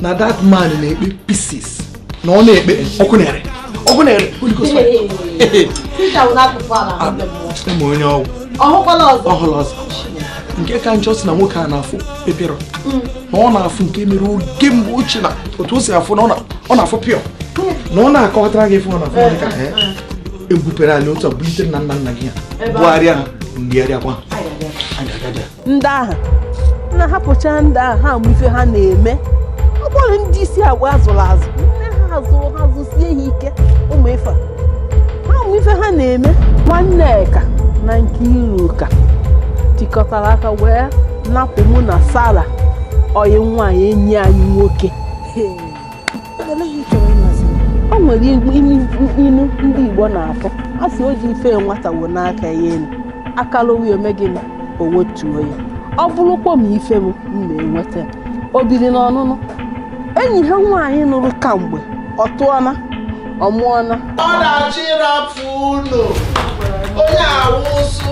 na that man na-ekpe pieces na ọ na-ekpe ọkụ na-ere ọkụ na-ere ma onye ọgwụ ọhụrụ ọzọ nke ka njọ si na nwoke a na-afụ pepero mm. na ọ na-afụ nke mere oge mgbe ochie na otu o si afụ na ọ na-afụ pịọ na ọ na-akọtara gị fụ ọ na-afụ ebupere anyị otu a bulite nna nna nna gị ya bụgharịa ha ngigharịakwa ndị ahụ na hapụcha ndị ahụ ha mụ ife ha na-eme ọ bụrụ ndị isi agwa azụrụ azụ nne ha azụrụ ha zụsie ha ike ụmụ ife ha mụ ife ha na-eme Nwanneka na Nkiruka tikọtara aka wee napụ mụ na sara ọyị nwaanyị enyi anyị nwoke o nwere inu ndị Igbo na-atụ a sị o ji ife nwata wenie aka ya elu aka lawa ya o mee gịnị o wetuo ya ọ bụrụkwa m ife m na-enweta o biri n'ọnụnụ enyi ha nwaanyị nụrụ kamgbe ọ tụọna ọ mụọna ọ na-achọ ịrapụ ụlọ onye awụ ụsụ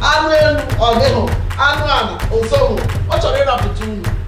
anụ elu ọ dịhụ anụ ala o sohu ọ chọrọ ịrapụta ụlọ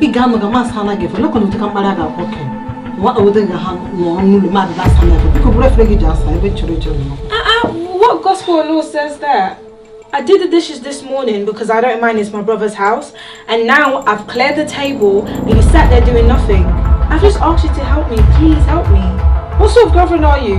ị ga-anọ ga masị anaghị efe lekwa na ụtụka mkparị a ga-akpọ ke nwa ode ga ha nọ n'ụlọ mmadụ na-asa na efe biko buru efere gị ji asa ebe chọrọ ịchọ nọ Ah, ah, what gospel law says that? I did the dishes this morning because I don't mind it's my brother's house, and now I've cleared the table and you sat there doing nothing. I've just asked you to help me. Please help me. What sort of girlfriend are you?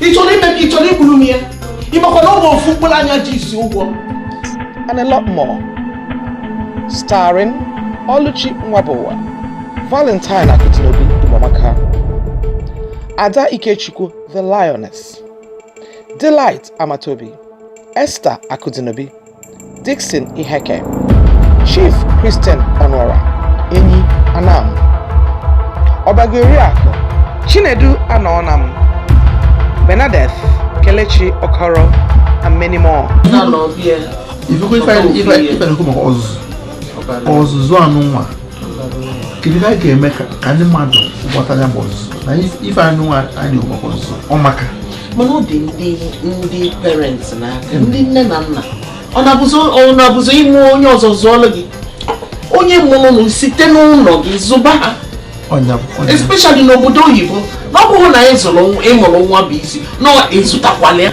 ị chọrọ ime ka ị chọrọ igburu m ya ị makwa na ọ bụ ofu mkpụrụ anya ji isi ụgwọ and a lot more starring Oluchi Nwabuwa Valentine Akudinobi Umamaka Ada Ikechukwu the Lioness Delight Amatobi Esther Akudinobi Dixon Iheke Chief Christian Ọnụọra Enyi Anam Ọbago Oriakụ Chinedu Anọọnam Bernadette Kelechi Okoro and many more. Ị fụkwa ife na-ekwu maka ọzụzụ ọzụzụ a nụnwa kedu ka anyị ga-eme ka ndị mmadụ ghọta ya bụ ọzụzụ na ife a nụnwa anyị na-ekwu maka ọzụzụ ọ maka mana ọ dị ndị ndị parents n'aka ndị nne na nna ọ na-abụzi ị mụọ onye ọzọ zụọlụ gị onye mụrụnụ site n'ụlọ gị zụba ha especially n'obodo oyibo na ọ bụghị na ị zụrụ ị mụrụ nwa bụ isi na ị zụtakwala ya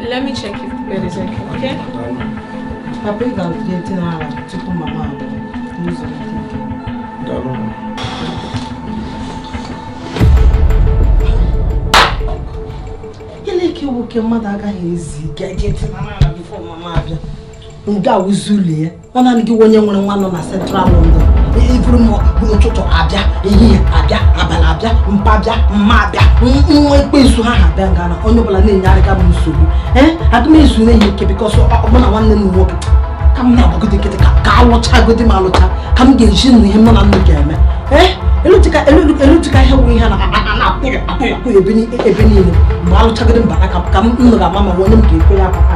Let me check if the bed is okay. Papa, ị ga-atụnye ntị n'ala tupu mama abụọ n'ụzọ ike. Daalụ. Gịnị ka iwu nke mmadụ agaghị ezi ike eji ntị n'ala bifo mama abịa? Nga a wụzi ụlọ ya, ọ naanị gị wụ onye nwere nwa nọ na Central London iburu m n'ụtụtụ abịa ehihie abịa abalị abịa mpa abịa mma abịa nwa ekwensu ha ha bịa nga a na onye ọbụla na-enyerịga m nsogbu ee aga m ezu na-enye ike bikọs ọ bụ na nwanne m nwoke ka m na-agbagode nkịtị ka a lụchagodi m alụcha ka m ga-eji nụ ihe m na unu ga-eme ee elutika ihe bụ ihe na-akwụghị akwụghị ebe niile mgbe a lụchagodi m bata ka m nụ ga-ama ma onye m ga-ekwe ya papa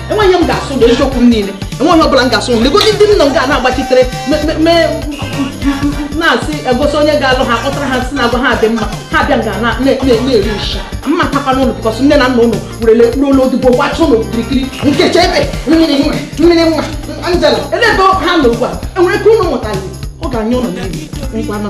enweghị m ga-asụ na eziokwu m niile enweghị ọbụla m ga-asụ m legodi ndị unu ga na-agbachitere na-asị egosi onye ga-alụ ha kpọtara ha si na agwa ha dị mma ha bịa ga na-eri nshi ma takwa n'ụlọ bikọs nne na nna unu werele kpụrụ unu odibo gbacha unu kirikiri Nkechi ebe mmiri nwa mmiri nwa Angela ele ebe ha nọ ugbu a enwere ike unu mụtali ọ ga-enye unu niile ngwa nọ